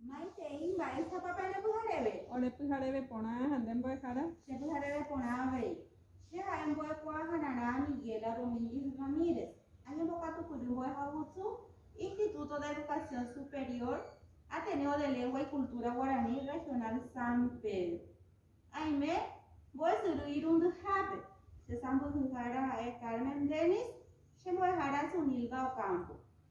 Maitei, mba'éichapa pende pyhareve? Ore pyhareve porã ha nde mbo'ehára. Che pyhareve porã avei. Che ha'e mbo'ekuaa hanarã Miguela Domínguez Ramírez. Añembokatupyry mbo'ehagusu Instituto de Educación Superior, Ateneo de Lengua y Cultura Guaraní Regional San Pedro. Aime mbo'esyry irundyhápe. Che sãmbyhyhára ha'e Carmen Dennis, che mbo'ehára Sunilda Ocampo.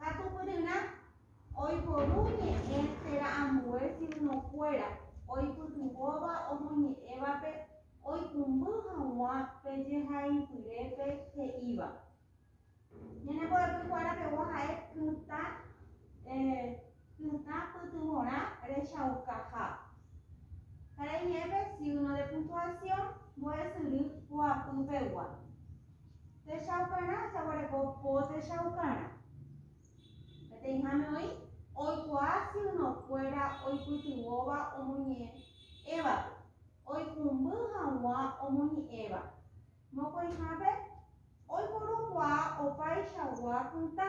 Katupyryrã oiporu ñe'ẽ térã ambue signokuéra oipytyvõva omoñe'ẽvape oikũmby hag̃ua pe jehaipyrépe he'íva. Ñanembo'epy kuéra pegua ha'e kytã. Pytã pytyvõrã rechaukaha. Karai jepe signo de puntuación mbo'esyry poapy pegua. Techaukarã jaguereko po techaukarã. Peteĩháme oĩ oikuaa signo kuéra oipytyvõva omoñe'ẽvape, oikũmby haguã omoñe'ẽva. Mokõihápe oiporukuaa opaichagua pytã.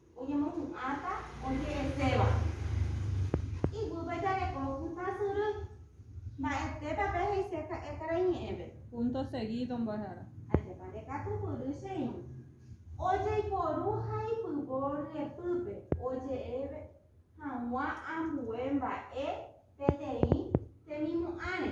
Oñemopu'ãta oje'eséva. Iguýpe jareko hũta syry. Mba'etépa pe he'ise ka'e karai ñe'ẽve. Punto seguido mbo'ehára. Ajépa ndekatupyry che irũ. Ojeiporu ha ipyvo ryepýpe oje'eve hag̃ua ambue mba'e peteĩ temimu'ãre.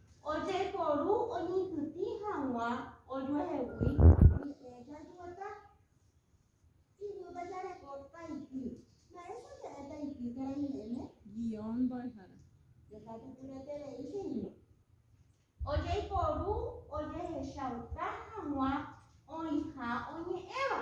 Ojeporu oñyhytĩ hag̃ua ojuehegui ñe'ẽ jajueta. Ijúta jareko taiky. Mba'éicha ñe'ẽ taiky térã iñe'ẽme? Guión mbo'ehára. Ndekatupyreterei che irũ. Ojeporu ojehechauka hag̃ua oĩha oñe'ẽva.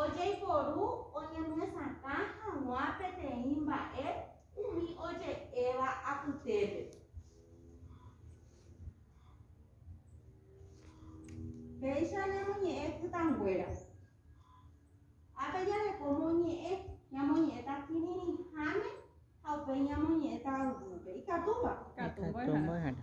Ojeiporu oñemyesakã hag̃ua peteĩ mba'e umi oje'éva apytépe. Péicha ñamoñe'ẽ kytanguéra. Ápe jareko moñe'ẽ, ñamoñe'ẽta kirirĩháme ha upéi ñamoñe'ẽta yvýpe. Ikatúva? Ikatu mbo'ehára.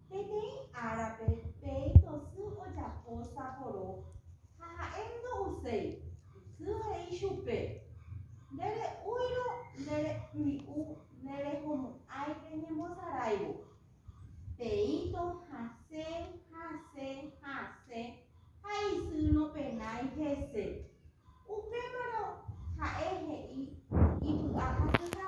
Peteĩ árape peẽko sy ojapo saporo ha ha'e ndo'uséi, sy he'i chupe, Nde re'úirõ nde rembi'u ne rehomo'ãi reñembosaráivo. Peĩto hasẽ, hasẽ, hasẽ ha isy nopenái hese. Upémarõ ha'e he'i ipy'ahasyha.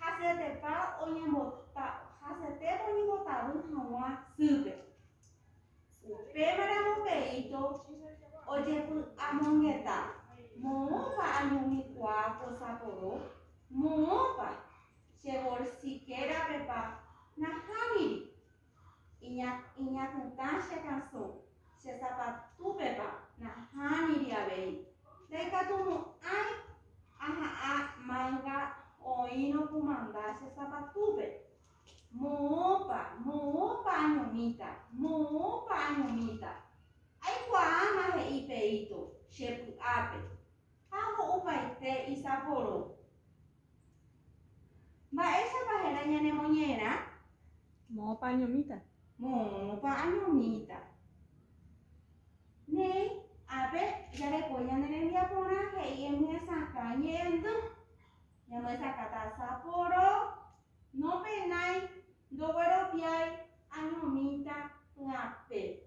Hasetepa oñembota, hasetépa oñembotavy haguã sýpe. Upémaramo peíto ojepy'amongeta, moõpa añomikuaa ko saporo, moõpa che bolsikérapepa nahámiri, Iña, iñakãta che kasũ, che zapatúpepa nahániri avei. Ndaikatumo'ãi aha'ã manga oĩrõ kumanda che zapatúpe. Moõpa, moõpa añomíta, moõpa añomíta. Aikuaáma he'i Peíto, che py'ápe. Ha ho'upaite isaporo. Mba'éichapa héra ñanemoñe'ẽrã? Moõpa añomíta. Moõpa añomíta. Néi, ápe, jareko ñane rembiaporã he'i emyesakã ñe'ẽndy. Ñamyesakã tasaporo, nopenái, ndogueroviái, añomíta py'apére.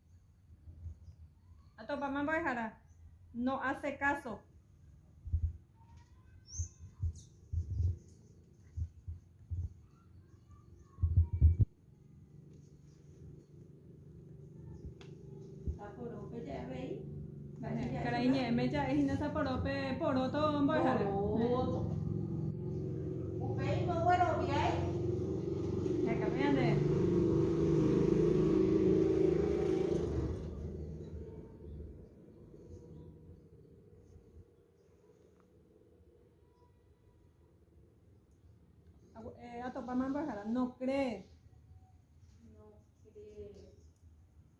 Atopama mbo'ehára. No hace caso. Taporópe jey avei. Karai ñe'ẽme ja'e hína saporo pe poróto mbo'ehára. Poróto. Upéi ndogueroviái. Hekami ñande. Atopáma mbo'ehára. No cree.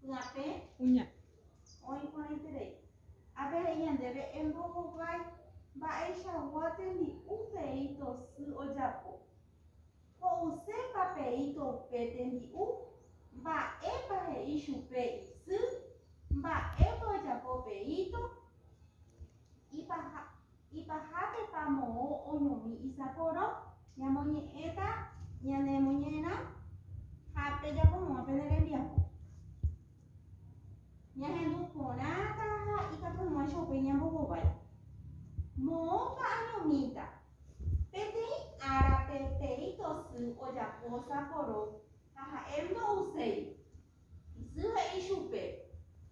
Kuñape. Kuña. Oĩ porãiterei. Ápe he'i ñandéve, Embohovái mba'eichagua tembi'u peíto sy ojapo. Ho'usépa peíto pe tembi'u, mba'épa he'i chupe isy, mba'épa ojapo peíto, ipaha. Ipahápepa moõ oñomi isaporo? Ñamoñe'ẽta ñanemoñe'ẽrã ha pejapo moõ pene rembiapo. Ñahendu porãta ha ikatu moõicha upéi ñambohovái. Moõpa añomíta? Peteĩ árape peteĩ tosy ojapo saporo ha ha'e ndo'uséi. Isy he'i chupe,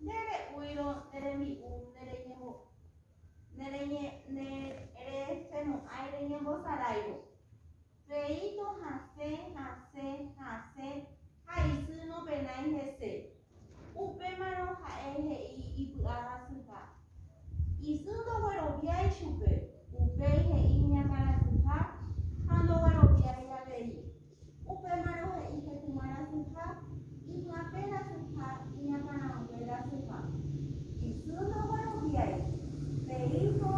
Ndere'úirõ nde rembi'u ndereñembo'e. nereñe'ẽresemo'ãi reñembosaráivo. Reíto hasẽ, hasẽ, hasẽ ha isy nopenái hese. Upémarõ ha'e he'i ipy'ahasyha. Isy ndogueroviái chupe, upéi he'i iñakãrasyha ha ndogueroviái avei. Upémarõ he'i hekuma rasuha, ivy'apẽ rasuha, iñakãraguẽ rasuha. Isy ndogueroviái, pe íjo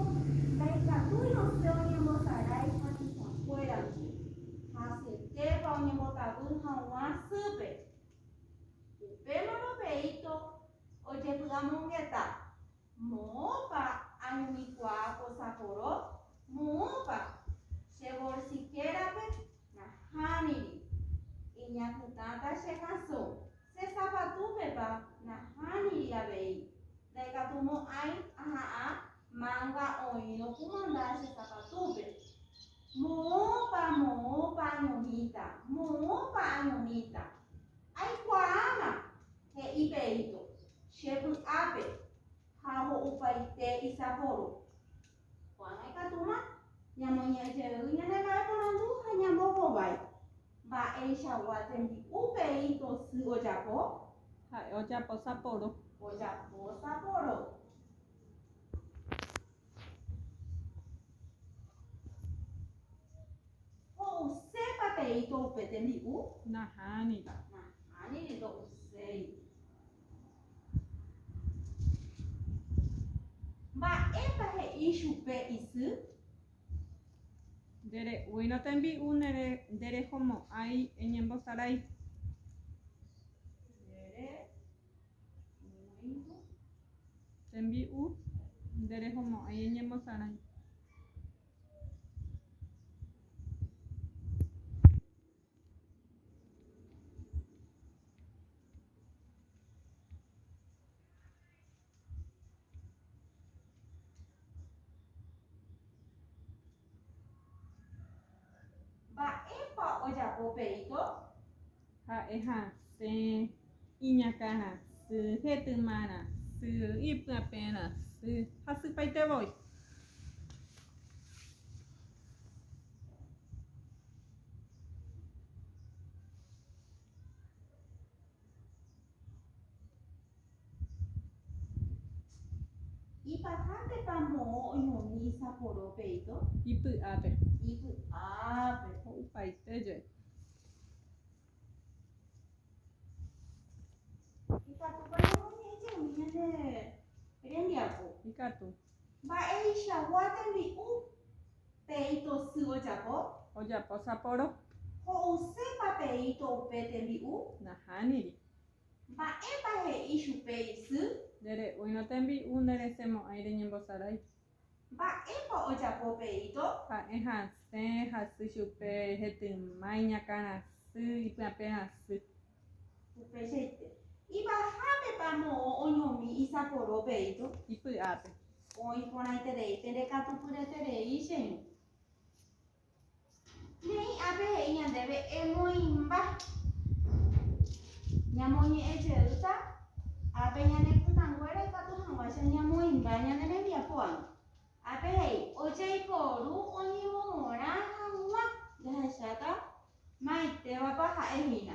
ndaikatúi osẽ oñembosarái hasysakuérandi, hasyetépa oñembotavy haguã sýpe. Upémarõ pe íto ojepy'amongeta, Moõpa añomikuaa posaporo? Moõpa, che bolsikérape nahániri. Iñapytãta che kasõ, che sapatúpepa nahániri avei. Ndaikatumo'ãi aha'ã manga oĩrõ kumanda che sapatúpe. Moõpa, moõpa añomíta, moõpa añomíta. Aikuaáma, He'i Peito, Che py'ápe ha ho'upaite isapórõ. Ko'ág̃a ikatúma ñamoñe'ẽ jey ñane mba'eporandu ha ñambohovái. Mba'eichagua tembi'u Peito sy ojapo? Ha'e ojapo sapórõ. Ojapo sapórõ. Ho'usépa peíto upe tembi'u? Nahániri. Nahániri, ndo'uséi. Mba'épa he'i chupe isy? Ndere'úirõ tembi'u nderehomo'ãi eñembosarai. Tembi'u nde rehomo'ãi eñemosarãi. Mba'épa ojapo Perito? Ha'e ha pe iñakã rasy, hetyma rasy, ipyapẽ rasy ha sypaite voi. Ipy'ápepa moõ oñomi isaporo peito? Ipy'ápe. Ipy'ápe. Ho'upaite jey. Ikatúpa ñamoñe'ẽ jeými ñande rembiapo. Ikatu. Mba'eichagua tembi'u. Pe'ĩto sy ojapo? Ojapo saporo. Ho'usépa pe'ĩto upe tembi'u? Nahániri. Mba'épa he'i chupe isy? Ndere'úirõ tembi'u, nderesemo'ãi reñembosarái. Mba'épa ojapo pe'ĩto? Ha'e hasẽ, hasy chupe, hetyma, iñakãrasy, ipyapẽrasy. Upeichaite. Ivahápepa moõ oñomi isaporo pe'ĩto? Ipy'ápe. Oĩ porãiterei pe rekatupyreterei che ru. Ne'ĩ ápe he'i ñandéve emoĩmba. Ñamoñe'ẽ jeýta ápe ñane kytãnguéra ikatu hag̃uáicha ñamoĩmba ñane rembiapo ág̃a. Ápe he'i ojaiporu oñemomorã hag̃ua jahecháta maitévapa ha'e hína.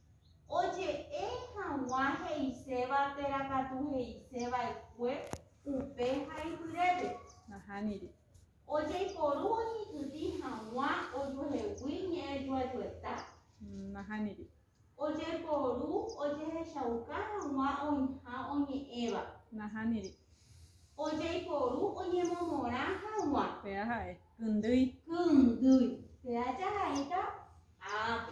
Oje'e hag̃ua he'iséva térã katu he'ise va'ekue upe haipyrépe. Nahániri. Ojeiporu oñykytĩ hag̃ua ojuehegui ñe'ẽ juajueta. Nahániri. Ojeiporu ojehechauka hag̃ua oĩha oñe'ẽva. Nahániri. Ojeiporu oñemomorã hag̃ua. Péa ha'e. Kyndýi. Kyndýi. Péa jahaíta ápe.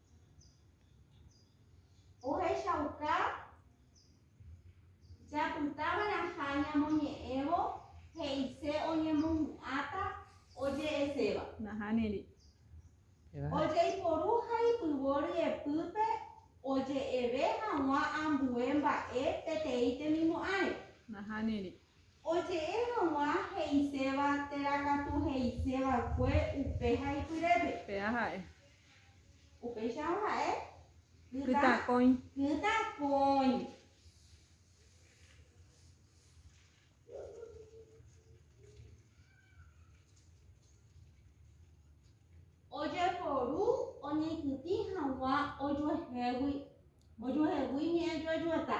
Ohechauka japytava'erãha ñamoñe'ẽvo he'ise oñemohu'ãta oje'eséva. Nahániri. Ojeiporu ha ipyvo ryepýpe oje'eve hag̃ua ambue mba'e peteĩ temimo'ãre. Nahániri. Oje'e hag̃ua he'iséva térã katu he'ise va'ekue upe ha ipyrépe. Péa ha'e. Upéicharõ ha'e kytakõi. Kytakõi. Ojeporu oñeitytĩ hag̃ua ojuehégui. Ojuehegui ñe'ẽjoejueta.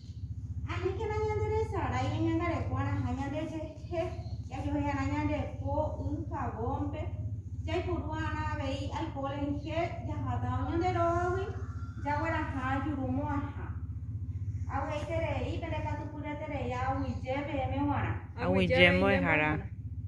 Aníkena ñanderesarái ñañangarekuaraha ñandejehe jajohe'arã ñande po y jagónpe, jaiporu'arã avei alkoholrẽnje jahátava ñande rógagui jagueraha jurumo'ãha. Aguyjeterei pende katu puraiterei aguyje peẽme g̃uarã. Aguyje mbo'ehára.